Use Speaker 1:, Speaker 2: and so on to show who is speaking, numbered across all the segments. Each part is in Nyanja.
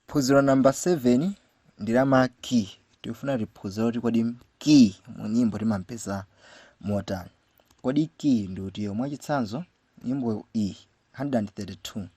Speaker 1: phunziro namba 7 ndi la ma key tikufuna tiphunzire kuti kodi key mu nyimbo timampeza motani kodi key ndi utiyo mwachitsanzo nyimbo iyi 132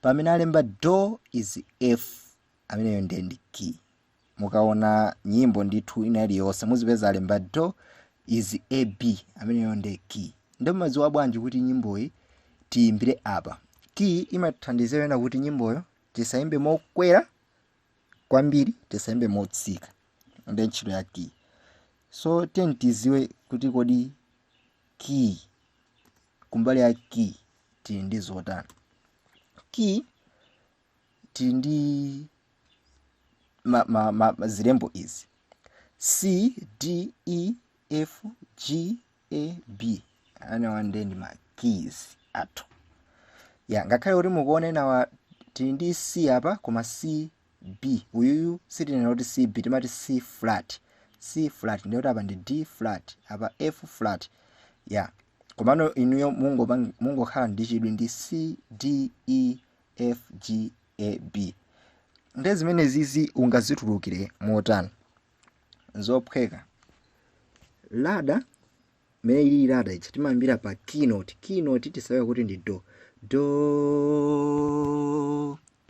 Speaker 1: pamene alemba do is f ameneyo ndiye ndi key mukaona nyimbo ndithu ina iliyonse muzipeza alemba do is a b ameneyo nde key nde mumadziwa bwanji kuti nyimboyi tiyimbire apa key imathandizira ena kuti nyimboyo tisayimbe mokwera kwambiri tisayimbe motsika nde ntchito ya key so tiyeni tidziwe kuti kodi key kumbali ya key tili ndi zotani key tili ndi zilembo izi c d e f g a b amenewa nde ndi ma keys athu ya ngakhale kuti mukuona awa tili ndi c apa koma c b uyuyu sitinena kuti c b timati c flat c flat ndiye kuti apa ndi d flat apa f flat ya komano inuyo mungokhala ndi chidwi ndi c d e FGAB. Nde zimenezizi ungazitulukire motani? Nzophweka. Lada imene ili lada ichi timayambira pa keynote. Keynote tidziwe kuti ndi do. Do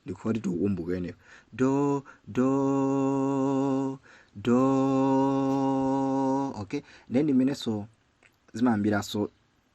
Speaker 1: ndikufuna kuti tikumbuke imeneyo. Do do do. Okay? Nde ndi mmenenso zimayambiranso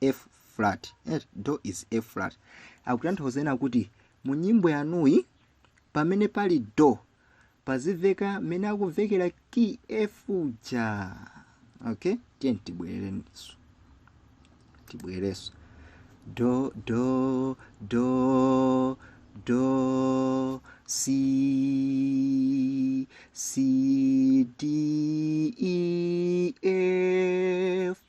Speaker 1: F flat do is F flat akutanthauza ena kuti mu nyimbo yanuyi pamene pali do paziveka mmene akuvekera key F uja okay tiyeni tibwerenso tibwerenso do do do do c c d e f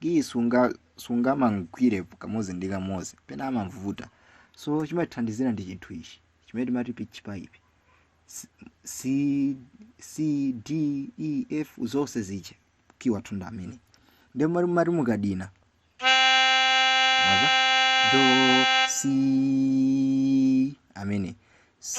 Speaker 1: key sunga sungamugwire kamodzi ndi kamodzi pena amavuta so chimathandizira ndi chinthu ichi chimene timati pitch pipe C- C- c d e f zonse ziche key wathu ndi amene ndi mari mari mukadina do C amene C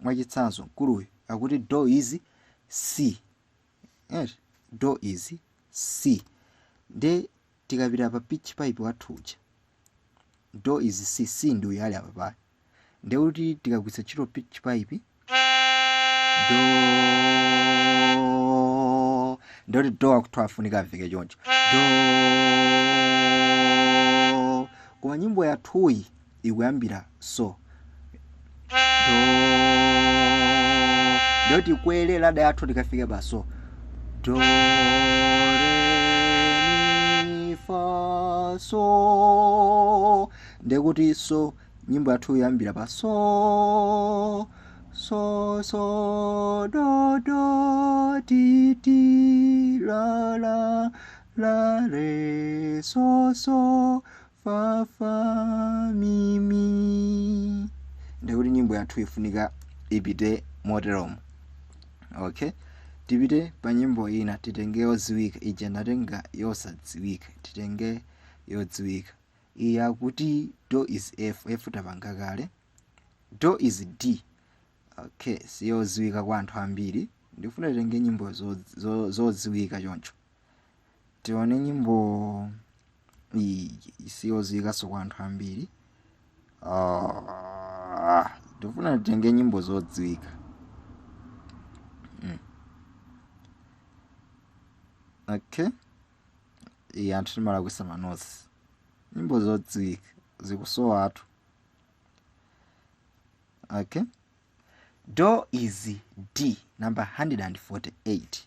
Speaker 1: Mwachitsanzo, mkuluyu akuti do is C eti do is C nde tikapita pa pitch pipe wathu uja do is C C ndi uyu ali apapayu nde kuti tikagwiritsa ntchito pitch pipe do nde kuti do akuthi afunika amveke choncho do koma nyimbo yathuyi ikuyambira so do do tikwere lada yathu tikafike pa so do re mi fa so ndekuti so nyimbo yathu ikuyambira pa so so so do do ti ti la la la re so so fa fa mi mi nde kuti nyimbo yathu ifunika ipite moteromo okay tipite pa nyimbo ina titenge yodziwika ija ndatenga yosadziwika titenge yodziwika iyi akuti do is f f tapanga kale do is d okay siyodziwika kwa anthu ambiri ndifuna titenge nyimbo zodziwika choncho tione nyimbo iyi siyoziwikanso kwa anthu ambiri Ah, ndifuna titenge nyimbo zodziwika Mm. okay iyi anthu timalakwisa manosi nyimbo zodziwika zikusowatu okay do is d number 148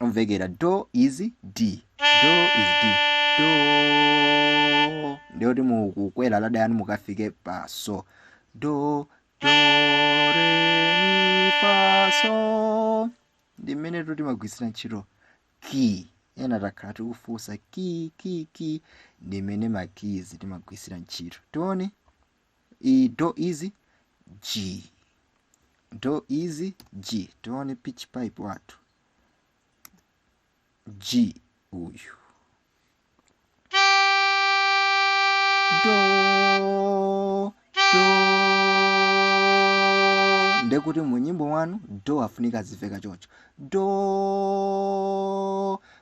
Speaker 1: imvekera do is d do is d do nde kuti mukukwera lada yanu mukafike pa so do do re mi fa so ndi mmenetu timagwiritsira ntchito key ena akhala akufunsa key key key ndi mmene ma keys timagwiritsira ntchito tione iyi do is g do is g tione pitch pipe wathu G uyu do do ndekuti mu nyimbo wanu do afunika aziveka choncho do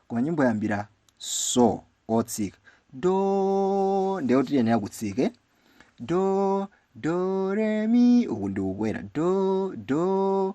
Speaker 1: koma nyimbo yambira so otsika do ndekuti tiyenera kutsike do do re mi uku ndikukwera do do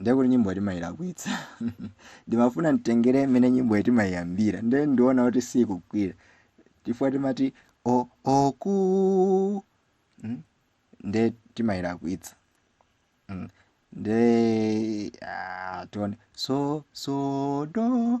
Speaker 1: ndiye kuti nyimbo timayilakwitsa ndimafuna nditengere mmene nyimboyi timayiyambira ndiye ndiona kuti sikugwira chifukwa timati o oku mm, ndiye timayilakwitsa mm. ndiye ah, tione so so do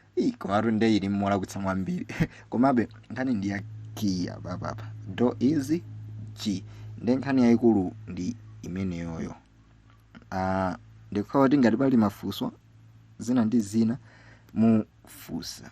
Speaker 1: Ii, komatu nde ili mmolakwitsamo ambiri komabe nkhani ndi ya key apapa do is g nde nkhani yayikulu ndi imeneyoyo uh, ndikhulupira kuti ngati pali mafunso zina ndi zina mufunsa